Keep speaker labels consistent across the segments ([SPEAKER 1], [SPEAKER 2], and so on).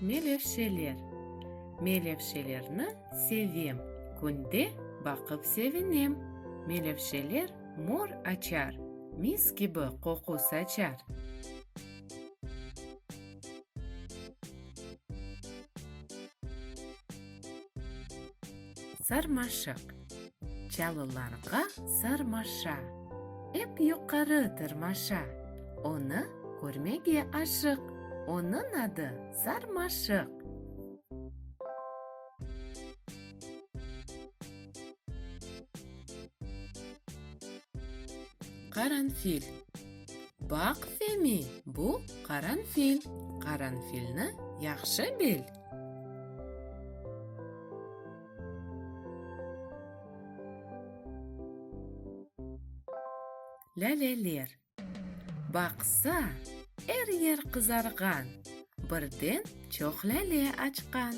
[SPEAKER 1] Melevşeler Melevşelerni sevem, Künde baqıp sevinem. Melevşeler mor açar, Mis kibi qoqu saçar. Sarmaşıq. Çalılarğa sarmaşa. Ep yuqarı tırmaşa. Onı körmege aşıq. Onıñ adı sarmaşıq. Qaranfil. Baq, Femi, bu qaranfil. Qaranfilni yahşı bil. Lâleler baqsa, er yer qızarğan, Birden çoq lâle açqan.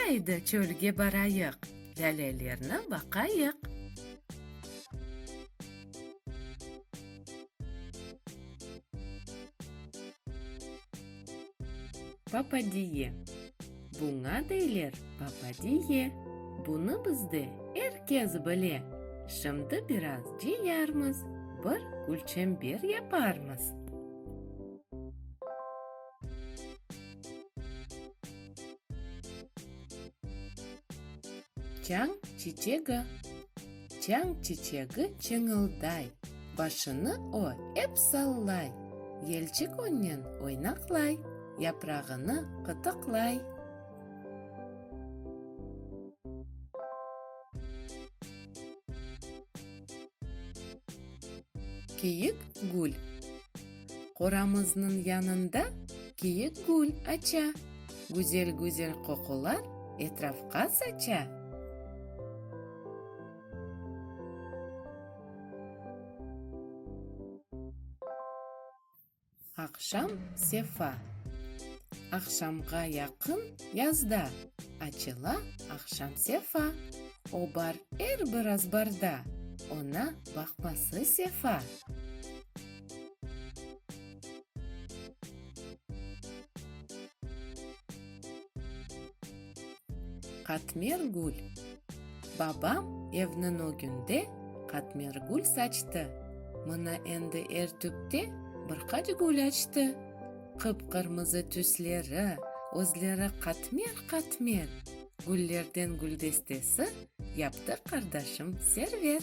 [SPEAKER 1] Aydı çölge barayıq, Lâlelerni baqayıq. Papadiye, Buña deyler papadiye, bunı bizde er kes bile. Şimdi biraz cıyarmız, bir külçember yaparmız. Çañ çiçegi. Çañ çiçegi çıñılday. Başını o ep sallay. Yelçik onnen oynaqlay. Yaprağını qıtıqlay. Keyik gül. Qoramıznıñ yanında kiyik gül aça, güzel-güzel qoqular etrafqa saça. Aqşam sefa. Aqşamğa yaqın yazda açıla aqşam sefa, o bar er bir azbarda, oña baqması sefa. Qatmergül. Babam evniñ ögünde qatmergül saçtı. Mına endi er tüpte bir qaç gül açtı. Qıp-qırmızı tüsleri, özleri qatmer-qatmer. Güllerden güldestesi yaptı qardaşım Server.